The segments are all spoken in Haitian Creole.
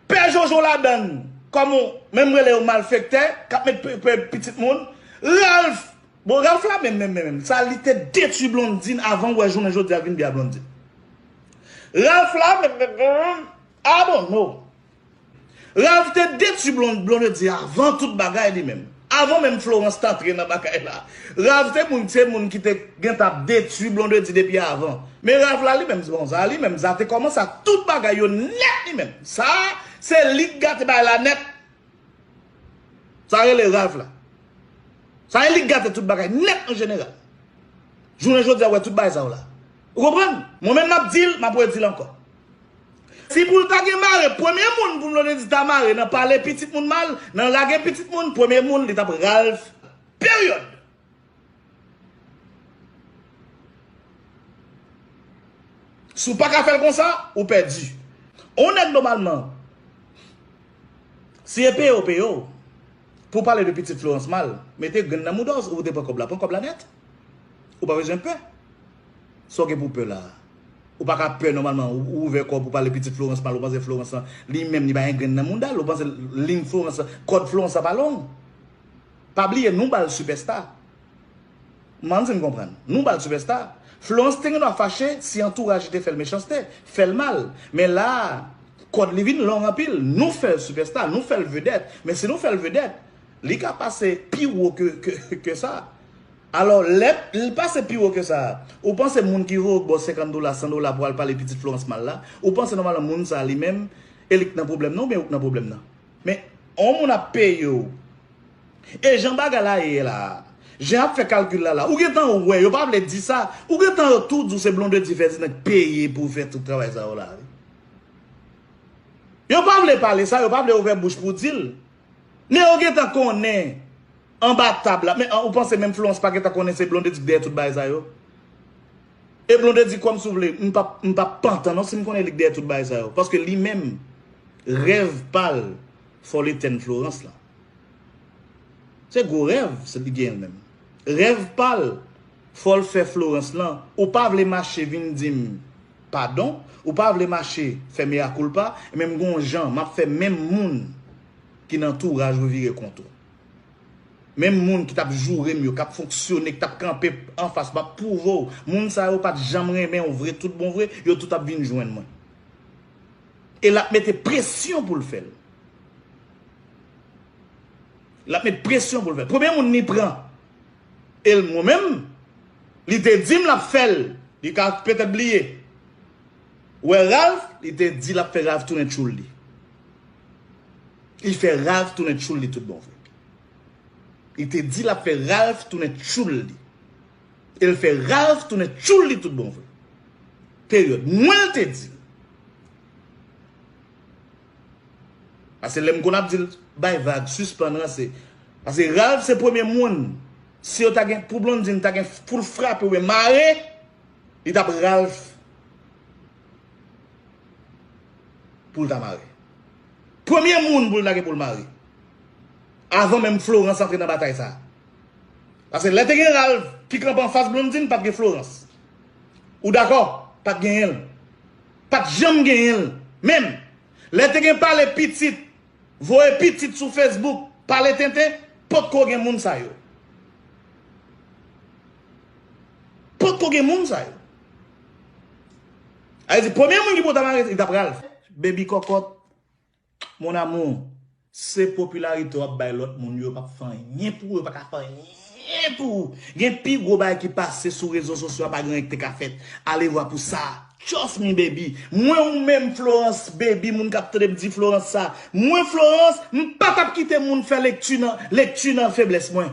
Pè jojo ladann kòm on menm rele yo malfektè kap met pè pitit moun Ralph bon Ralph la menm menm menm sa li te detwi Blondine avan wè jounen jodi a vin di a Blondine Ralph la menm menm menm ah bon no. Ralph te detu Blonde Blonde di avan tout bagay li menm avan menm Florence t antre nan bagay la Ralph te moun se moun ki te gentan ap detu Blonde di depi avan men Ralph la li menm bon za li menm za te kòmanse ak tout bagay yo nèt li menm sa se li k gate bagay la nèt sa rele Ralph la sa e li k gate tout bagay nèt an jeneral jounen jodi a wè tout bagay sa yo la. Ou konprann? Mwen menm map dil, map redil ankò. Si poul ta gen mare, premye moun pou Blondedy ta mare nan pale pitit moun mal, nan lage pitit moun, premye moun li tap Ralph. Period! Si w paka fèl konsa, ou pèdi. On nèg nomalman, si e peye yo peye w, pou w pale de pitit Florence mal, mete grenn nan mouda w, ou te pran kòb la, pran kòb la nèt. Ou pa bezwen pè. Sa w gen pou w pè la a? Ou pa ka pè nòmalman. Ou ouvè kò w pou w pale pitit Florence mal. Ou panse Florence lan, li menm li pa gen grenn nan mouda l. Ou panse lin Florence lan, kòd Florence lan pa long. Pa bliye nou ba l sipèsta. M ann di n konprann. Nou ba l sipèsta. Florence te gen dwa fache si antouraj li te fè l mechanste, fè l mal. Men la a, kòd li vin long anpil. Nou fè l sipèsta, nou fè l vedèt. Men si nou fè l vedèt, li ka pase pi wo ke sa. Alò, lè l pase pi wo ke sa a, ou panse moun ki voye w bo 50 dola, 100 dola pou al pale pitit Florence mal la, ou panse nòmalman moun sa a li menm, e li k nan pwoblèm nan oubyen ou k nan pwoblèm nan? Men, yon moun ap peye w. E jan bagay la ye la a, jan y ap fè kalkil la la, ou gen tan wè, yo pa vle di sa, ou gen tan yo tou di w se Blondedy Ferdinand k peye pou fè tout travay sa yo la wi. Yo pa vle pale sa, yo pa vle ouvè bouch pou di l. Men yo gen tan konnen Anba tab la men ou panse menm Florence pa gentan konnen se Blondedy k dèyè tout bagay sa yo? E Blondedy kwè m si w vle m pap m pap pantan non si m konnen li k dèyè tout bagay sa yo paske li menm rèv pa l fòle tèn Florence lan se gwo rèv se li genyen l menm rèv pa l fòl fè Florence lan ou pa vle mache vin di m padon ou pa vle mache fè meyakoulpa men m gon jan m ap fè menm moun ki nan touraj revirè kont ou. Menm moun ki tap jourem yo kap fonksyone ki tap kanpe anfas map pwouvew moun sa yo pat janm renmenw vre tout bon vre yo tout ap vin jwenn mwen e lap mete presyon poul fèl lap met presyon poul fèl premye moun li pran el mwen menm li te dim lap fèl li ka petèt bliye wè Ralph li te di lap fè Ralph tounen tchoul li. Li fè Ralph tounen tchoul li tout bon vre. Li te di l ap fè Ralph tounen tchoul li. E l fè Ralph tounen tchoul li tout bon vre. Peryòd. Mwen l te di l. Pase lè m konn ap di l bay vag, sispann ranse. Pase Ralph se premye moun. Si yo ta gen pou Blondine ta gen pou l frape oubyen mare, li t ap Ralph. Pou l ta mare. Premye moun pou l ta gen pou l mare. Avan menm Florence antre nan batay sa. Pase lè te gen Ralph ki kanpe anfas Blondine pat gen Florence. Ou dakò? Pat genyen l. Pat janm genyen l. Menm. Lè te gen pale pitit. Voye pitit sou Facebook. Pale tenten. Pot ko gen moun sa yo. Pot ko gen moun sa yo. Sa vle di premye moun ki pou ta mare li tap Ralph. Baby kòkòt Mon amour se popularité wap bay lòt moun yo pap fè anyen pou ou yo paka fè anyen pou ou gen pi gwo bagay ki pase sou rezo sosyo a pa gen anyen ki te ka fèt alevwa pou sa trust me baby mwen ou menm Florence baby moun kap tande m di Florence sa mwen Florence m patap kite moun fè lekti nan lekti nan feblès mwen.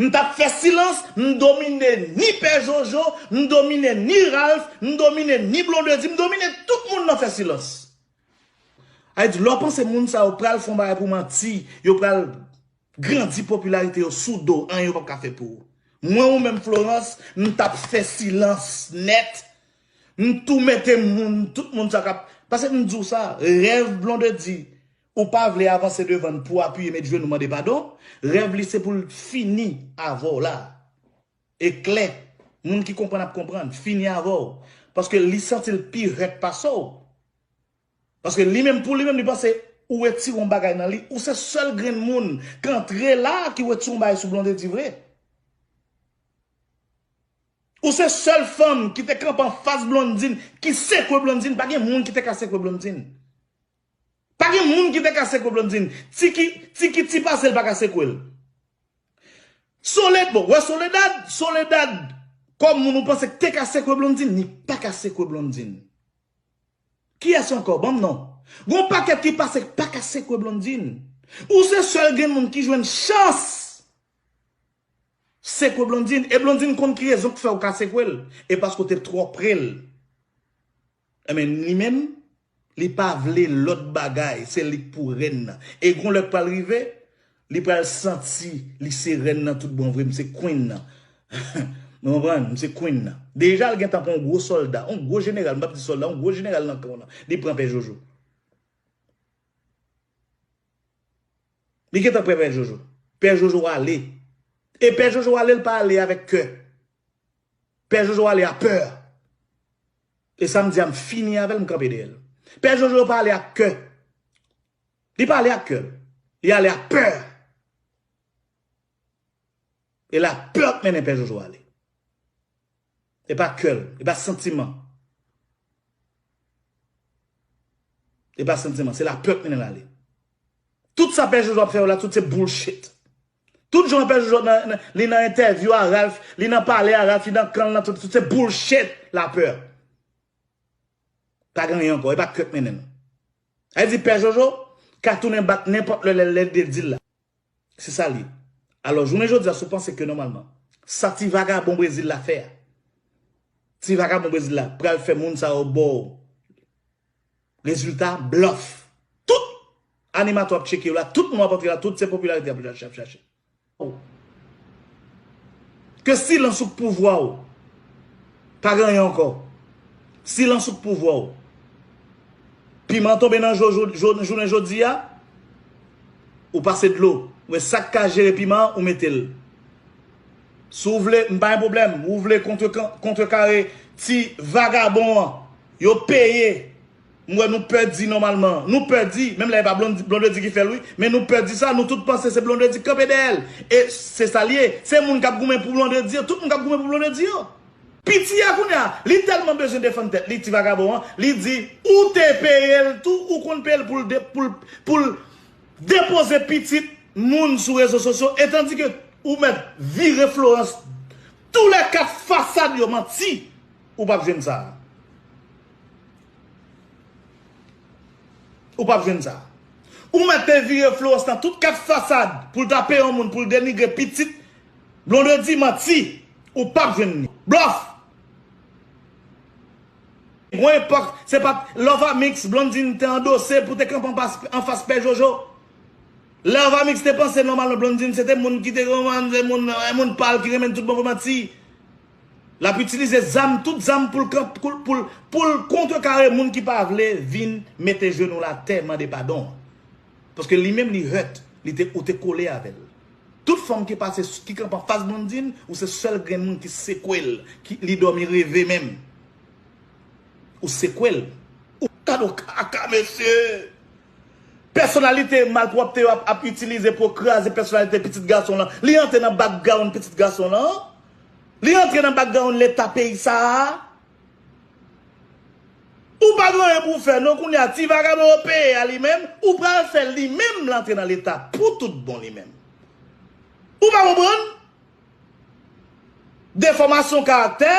M tap fè silans, m domine ni pè jojo, m domine ni Ralph, m domine ni blondedy, m domine tout moun nan fè silans. Ayiti lè w panse moun sa yo pral fon bagay pou manti, yo pral grandi popilarite yo sou do w anyen yo pap ka fè pou ou. Mwen ou menm Florence m tap fè silans nèt, m tou mete moun tout moun sa kap, pase m di w sa, rèv blondedy Ou pa vle avanse devann pouw apiye met jenou mande padon, rèv li se poul fini avèw la e klè, moun ki konprann ap konprann, fini avèw paske li santil pi rèk pasew. Paske li menm pou li menm li panse ou retire yon bagay nan li, ou se sèl grenn moun k antre la ki retire yon bagay sou Blondedy vre. Ou se sèl fanm ki te kanpe anfas Blondedy ki sekwe Blondedy, pa gen moun ki te ka sekwe Blondedy. Pa gen moun ki te ka sekwe Blondine. Tiki, Tiki ti pase l pa ka sekwe l. Soled, bon, wè Soledad, Soledad kòm moun ou panse k te ka sekwe Blondine, li pa ka sekwe Blondine. Kiyès ankò? Ban m non. Gon pakèt ki pase k pa ka sekwe Blondine. Ou se sèl grenmoun ki jwenn chans sekwe Blondine. E Blondine konn ki rezon k fè ou ka sekwe l. E paske w te twò pre l. Ebyen li menm li pa vle lòt bagay se lik pou rèn nan e gon lè k pral rive li pral santi li se rèn nan tout bon vre m se queen nan nou konprann m se queen nan deja l gentan pran yon gwo sòlda yon gwo jeneral m pap di sòlda yon gwo jeneral nan kan w nan li pran pè jojo li gentan pran pè jojo pè jojo ale e pè jojo ale l pa ale avèk kè Pè jojo ale a peur. E sam di a m fini avel m kanpe deyel. Pè jojo pa ale ak kè. Li pa ale ak kè. Li ale ak peur. E la peur k mennen pè jojo ale. E pa kèl. E pa santiman. E pa santiman. Se la peur k mennen l ale. Tout sa pè jojo ap fè yo la tout se bullshit. Tout jan pè jojo nan li nan entèvyou a Ralph li nan pale a Ralph li nan kanl nan tout se bullshit la peur pa gen anyen ankò epa krèk mennen nou sa vle di pè jojo ka tounen bat nenpòt lè lèl lèl de dil la se sa liye alò jounen jodi a sou panse ke nòmalman sa ti vagabon brezil la fè a ti vagabon brezil la pral fè moun sa yo baw Rezilta blòf. Tout Animatè w ap tcheke yo la, tout moun w ap antre la, tout se popilarite y ap chache. Ke silans ou k pouvwa w. Pa gen anyen ankò. Silans ou k pouvwa w. Piman tonbe nan je w jounen jodi a, ou pase dlo. Ou wè sa k ka jere piman an, ou mete l. Si w vle, m pa gen pwoblèm. Ou vle kontrekare ti vagabon an. Yo peye. M wè nou pè di nòmalman. Nou pè di, menm lè e pa Blondedy ki fè l wi, men nou pè di sa, nou tout panse se Blondedy ki kanpe dèyè l. E se sa l ye. Se moun k ap goumen pou Blondedy yo, tout moun k ap goumen pou Blondedy yo. Piti a kounye a, li tèlman bezwen defann tèt li, ti vagabon an, li di ou te peye l tou, ou konn peye l pou l pou l pou l. Depoze pitit moun sou rezo sosyo e tandike ou mèt vire Florence tou lè 4 fasad yo manti ou pap jwenn sa. Ou pap jwenn sa. Ou mèt te vire Florence nan tout 4 fasad poul ta peye yon moun poul denigre pitit Blondedy manti ou pap jwenn li. Blòf! Gwo epòk se pat Lovamix Blondine te andose pou te kanpe anfas pè Jojo. Lè Lovamix te panse nòmalman Blondine se te moun ki te konprann se moun moun pa l ki renmen l tout bon vre manti. L ap itilize zam tout zam pou l pou l kontrekare moun ki pa vle vin mete jenou l atè mande padon. Paske li menm li hurt li te ou te kole avè l. Tout fanm ki pase ki kanpe anfas Blondine ou se sèl grenn moun ki sekwel ki li dòmi reve menm ou sekwel. Ou gadon kaka mesye. Pèsonalite malpwòpte yo ap ap itilize pou yo kraze pèsonalite pitit gason lan. Li antre nan background pitit gason lan. Li antre nan background leta peyi sa a. Ou pa gen anyen pou w fè non kounye a ti vagabon yo peye a li menm ou pral fè l li menm l antre nan leta pou tout bon li menm ou pa konprann defòmasyon karaktè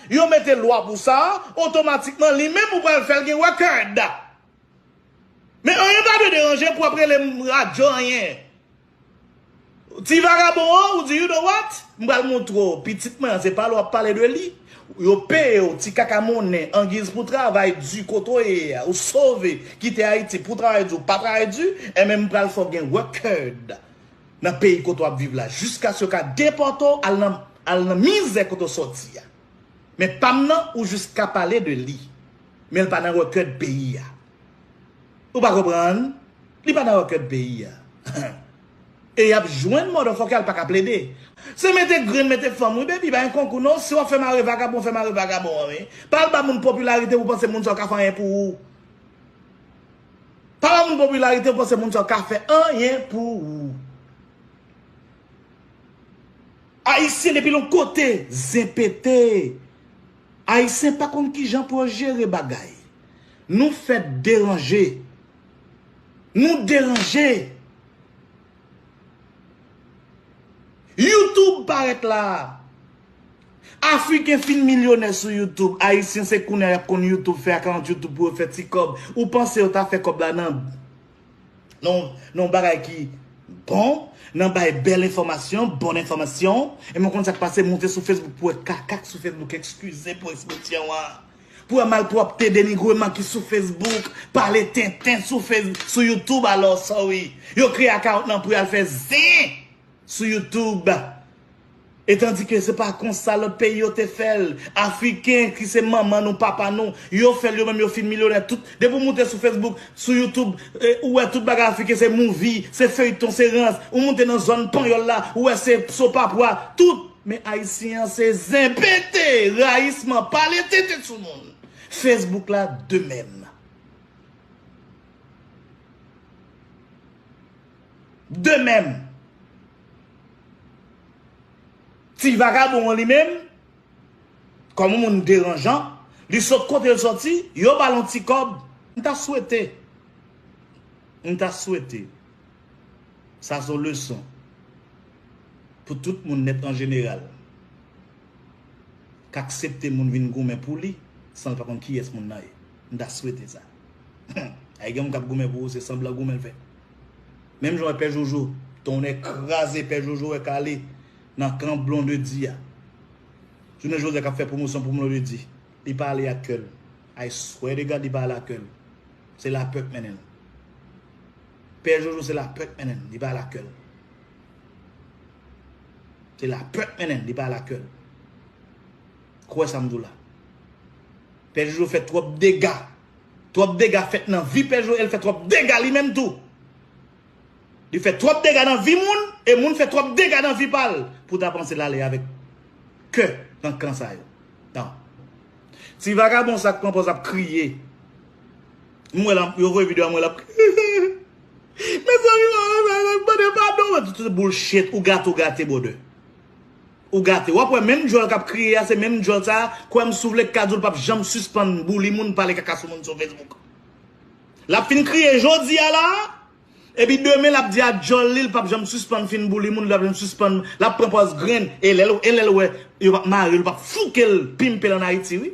yo mete lwa pou sa otomatikman li menm ou pral fè l gen record men anyen pa dwe deranje pou ap rele m radyo anyen. Ti vagabon an ou di you know what m pral moutre w pitit mwen an se pa l wap pale de li yo peye w ti kaka monnen angiz pou travay di kote w ye a ou sove kite ayiti pou travay di ou pa travay di enben m pral fè w gen record nan peyi kote wap viv la jiskas yo ka depòte w al nan mizè kote w sòti a men pa m nan ou jis ka pale de li men l pa nan record peyi a. Ou pa konprann? Li pa nan okèd peyi a. E yap jwenn motherfucker al paka plede. Se mete grenn mete fanm wi baby pa yon konkou non si wap fè mare vagabon fè mare vagabon an wi pa al ba moun popilarite pou panse moun sa yo ka fè anyen pou ou pa ba moun popilarite pou panse moun sa yo ka fè anyen pou ou ayisyen depi lon kote zen pete Ayisyen pa konn kijan pou yo jere bagay. Nou fèt deranje. Nou deranje! Youtube parèt la a. Afriken fin milyonè sou Youtube. Ayisyen se kounye a y ap konn Youtube fè akawont Youtube pou yo fè ti kòb. Ou panse yo ta fè kòb la nan. Nan yon bagay ki bon, nan bay bèl enfòmasyon, bon enfòmasyon, e mwen konn sa k pase, moute sou Facebook pou wè kaka k sou Facebook, ekskize pou espresyon an, pou wè malpwòpte, denigreman ki sou Facebook, pale tenten sou Facebook, sou YouTube alò, sorry, yo kreye akawont lan pou y al fè zen sou YouTube. E tandike se pa konsa lòt peyi yo te fè l. Afriken ki se manman nou, papa nou, yo fè l yo menm yo fin milyonè tout. Depi w moute sou Facebook, sou YouTube, ou wè tout bagay afriken se movie, se feyton, se rans. Ou moute nan zòn panyòl la, ou wè se sopapwa, tout. Men ayisyen an se zen pete, rayisman, pale tenten sou moun. Facebook la de menm. De menm. Ti vagabon an li menm, kòm moun deranjan, li sot kote l sòti, yo ba l yon ti kòb, m ta swete, m ta swete, sa s on leson pou tout moun nèt an jeneral k aksepte moun vin goumen pou li san l pa konn kiyès moun nan ye, m ta swete sa. Humm, ay gen moun k ap goumen pou ou se sanblan goumen l fè. Menm jan wè pè jojo tonnè kraze pè jojo wè kale nan kan blondedy a jounen jodi kap fè pwomosyon pou blondedy li pa ale ak kèl I swear to God li pa ale ak kèl se lapè k mennenl pè jojo se lapè k mennenl li pa ale ak kèl se lapè k mennenl li pa ale ak kèl kwè sam di w la pè jojo fè twòp dega. Trop dega fet nan vi pè Joel fè trop dega li menm tou li fè trop dega nan vi moun e moun fè trop dega nan vi pal pou ta panse lale avek kè nan kan sa yo nan ti vagabon sa k pran poz ap kriye m wè la yo voye video a m wè lap kriye mezanmi mwen wè sa mande padon tout se boulchet ou gate ou gate brother. Ou gate. Wap wè menm djòl kap kriye a se menm djòl sa kwèm si w vle kka di w l pap janm sispann bouli moun pale kaka sou moun sou Facebook. Lap fin kriye jodi a la epi demen lap di a djòl li l pap janm sispann fin bouli moun li pap janm sispann lap pran pòz grenn e lè e lè l wè yo pap mare l yo pap fouke l pimpe l an Ayiti wi.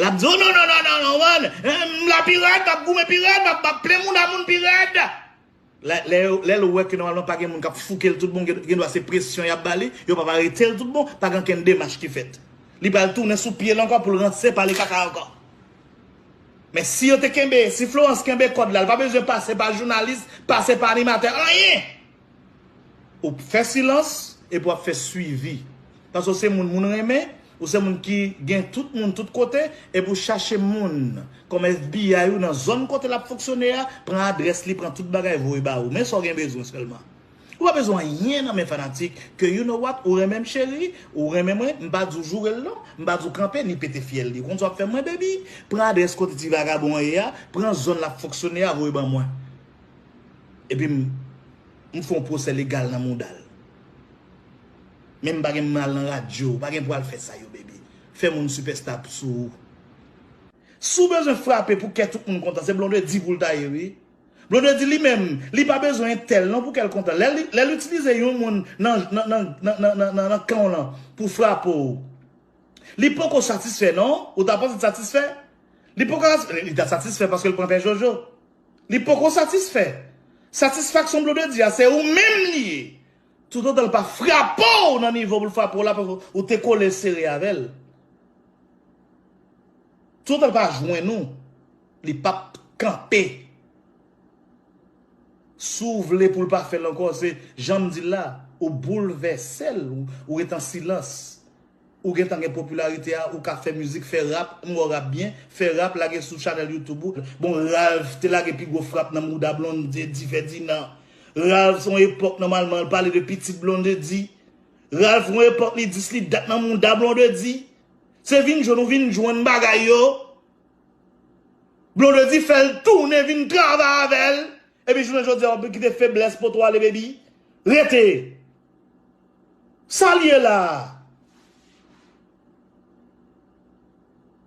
Lap di w non non non non non m la pi rèd map goumen pi rèd map plen mouda moun pi rèd. Lè l wè ke nòmalman pa gen moun k ap fouke l tout bon, gen dwa se presyon y ap ba li, yo p ap arete l tout bon, pa gen okenn demach ki fèt. Li pral tounen sou pye l ankò pou l ranse pale kaka ankò. Men si yo te kenbe, si Florence kenbe kòd la, li pa bezwen pase pa jounalis, pase pa animatè, anyen! Ou fè silans epi w ap fè swivi. Paske w se moun moun renmen, ou se moun ki gen tout moun tout kote, epi w chache moun kòm FBI ou nan zòn kote l ap fonksyone a, pran adrès li, pran tout bagay voye ba ou. Men sa w gen bezwen sèlman. Ou pa bezwen anyen nan men fanatik ke you no wat, ou renmen m cheri, ou renmen mwen, m pa di w joure l non, m pa di w kanpe li pete fyèl li. Ou konn sa w ap fè mwen baby? Pran adrès kote ti vagabon an ye a, pran zòn l ap fonksyone a voye ban mwen. Epi m fè yon pwosè legal nan mouda l. Men m pa gen mal nan radio. Ou pa gen pou al fè sa yo baby. Fè moun sipèsta p sou ou. Si w bezwen frape pou kè tout moun kontan se Blondedy pou l ta ye wi. Blondedy li menm li pa bezwen entèl non pou kè l kontan. Lè l itilize yon moun nan kan w lan pou frape w. Li poko satisfè non. Ou ta panse l satisfè? Li poko satisfè. Li ta satisfè paske l pran pè jojo. Li poko satisfè. Satisfaksyon Blondedy a se ou menm li ye. Tout otan l pa frape w nan nivo pou l frape w la paske ou te kole sere avè l. Tout otan l pa jwenn ou, li pap kanpe. Si w vle pou l pa fè l ankò se jan m di l la, ou boulvèse l, ou rete an silans. Ou gentan gen popularité a ou ka fè music fè rap m wèw rap byen fè rap lage sou channel youtube ou bon Ralph te lage pi gwo frap nan mouda Blondedy Ferdinand Ralph son epòk nòmalman l pale de pitit Blondedy Ralph gon epòk li dis li dat nan mouda Blondedy se vin jwenn ou vin jwenn bagay yo Blondedy fèl tounen vin travay avèl epi jounen jodi a wap vin kite feblès pot ou ale baby rete. Sal ye la a?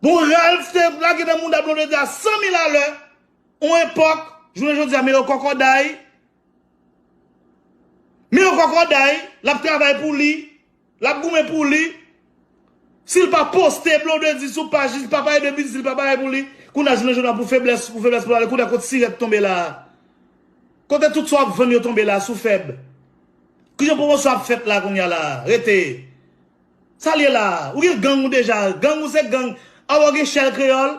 Bon Ralph te lage nan mouda Blondedy a 100 mil a lè on epòk jounen jodi a men yo kòkòday men yo kòkòday lap travay pou li lap goumen pou li. Sil pa poste blondedy sou paj li pa pale de biznis li pa pale pou li kounye a jounen jodi a pou feblès pou feblès pou ale kounye a kot sirèt tonbe la a kote tout sa wap vann yo tonbe la a sou fèb kijan pwomosyon ap fèt la kounye a la a rete sal ye la a ou gen gang ou deja gang ou se gang a wè w gen chèl kreyòl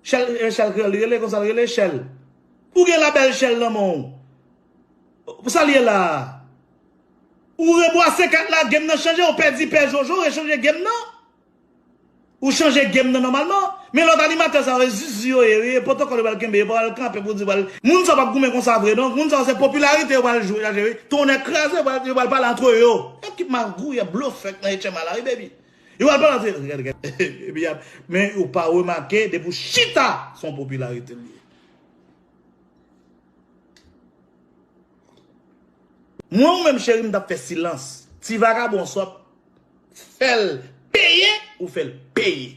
chèl e chèl kreyòl li rele konsal rele chèl ou gen labèl chèl nan men w Sal ye la a? Ou rebwase kat la game nan chanje ou pèdi pè jojo rechanje game nan ou chanje game nan nòmalman men lòt animatè sa yo e zuzu yo ye wi e potokòl yo pral kenbe yo pa pral kanpe pou di pral moun sa yo pap goumen konsa vre non moun sa yo se popilarite yo pral jwe chaje wi tonnè kraze yo pral yo pral pale antre yo e ki magouyè blofè k nan etchenm a la wi baby yo pral pale antre yo gad gad baby ap men ou pa remake depi w chita son popilarite l ye. Mwen ou menm cheri m tap fè silans ti vagabon sòt fèl peye ou fèl peye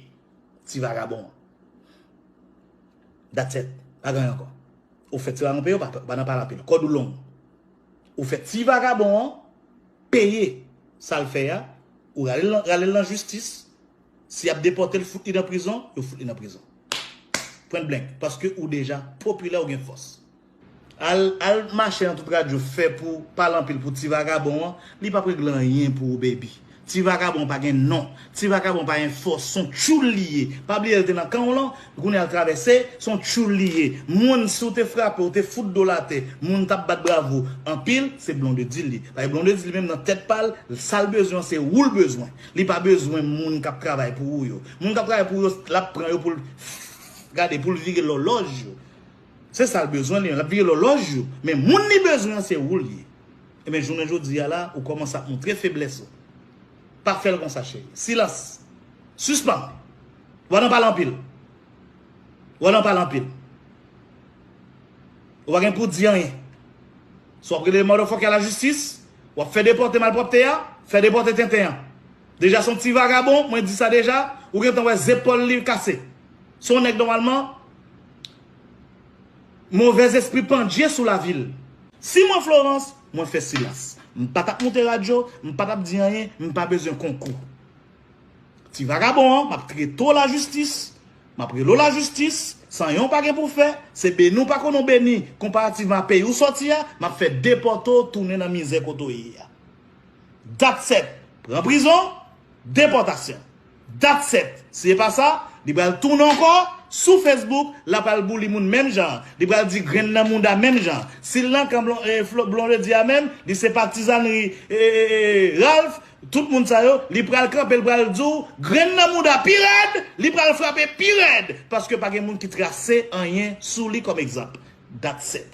ti vagabon dat sèt pa gen anyen ankò ou fè ti vagabon peye ou pa nan pale anpil kòd ou long ou fè ti vagabon peye sal fè ya ou ralel nan jistis Si yap depotel fout li nan prizon yo fout li nan prizon Point blank paske ou deja popilè ou gen fòs. Al al mache nan tout radyo fè pou pale anpil pou ti vagabon an li pap regle anyen pou ou baby ti vagabon pa gen non ti vagabon pa gen fòs son tchoul li ye pa bliye l te nan kan w lan kounya l travèse son tchoul li ye moun si w te frape w te fout do l atè moun tap bat bravo anpil se Blondedy li paske Blondedy li menm nan tèt pa l sa l bezwen an se ou l bezwen Li pa bezwen moun kap travay pou ou yo. Moun kap travay pou ou yo lap pran yo poul gade poul vire lòlòj yo. Se sal bezwen li menm lap vire lòlòj yo men moun li bezwen an se oul ye. Ebyen jounen jodi a la ou kòmanse ap montre feblès ou. Pa fèl konsa cheri. Silans. Sispann. Wa nan pale anpil. Wa nan pale anpil. Ou pa gen pou di anyen. Sa wap rele motherfucker la justice? Wap fè depòte malpwòpte a? Fè depòte tenten an. Deja son ti vagabon, mwen di sa deja, ou gentan wè zepòl li kase. Son nèg nòmalman movèz espri pandje sou lavil. Si mwen Florence, mwen fè silans. M pa tap moute radyo, m pa tap di anyen, m pa bezwen konkou. Ti vagabon an, map trete w la justice. Map rele w la jistis, san yon pa gen pou fè, se beni w pa konnen w beni, konparativman a peyi w sòti a, map fè depòte w tounen nan mizè kote w ye a. Dat sèt, pran prizon, depòtasyon. Dat sèt, si e pa sa, li pral tounen ankò, sou Facebook, la pral bouli moun menm jan an, li pral di grenn nan mouda menm jan an. Si l nan kan Blondedy a menm, li se patizanri Ralph, Tout moun sa yo, li pral kanpe li pral di w grenn nan mouda pi rèd, li pral frape pi rèd paske pa gen moun ki trase anyen sou li kòm egzanp. That's it.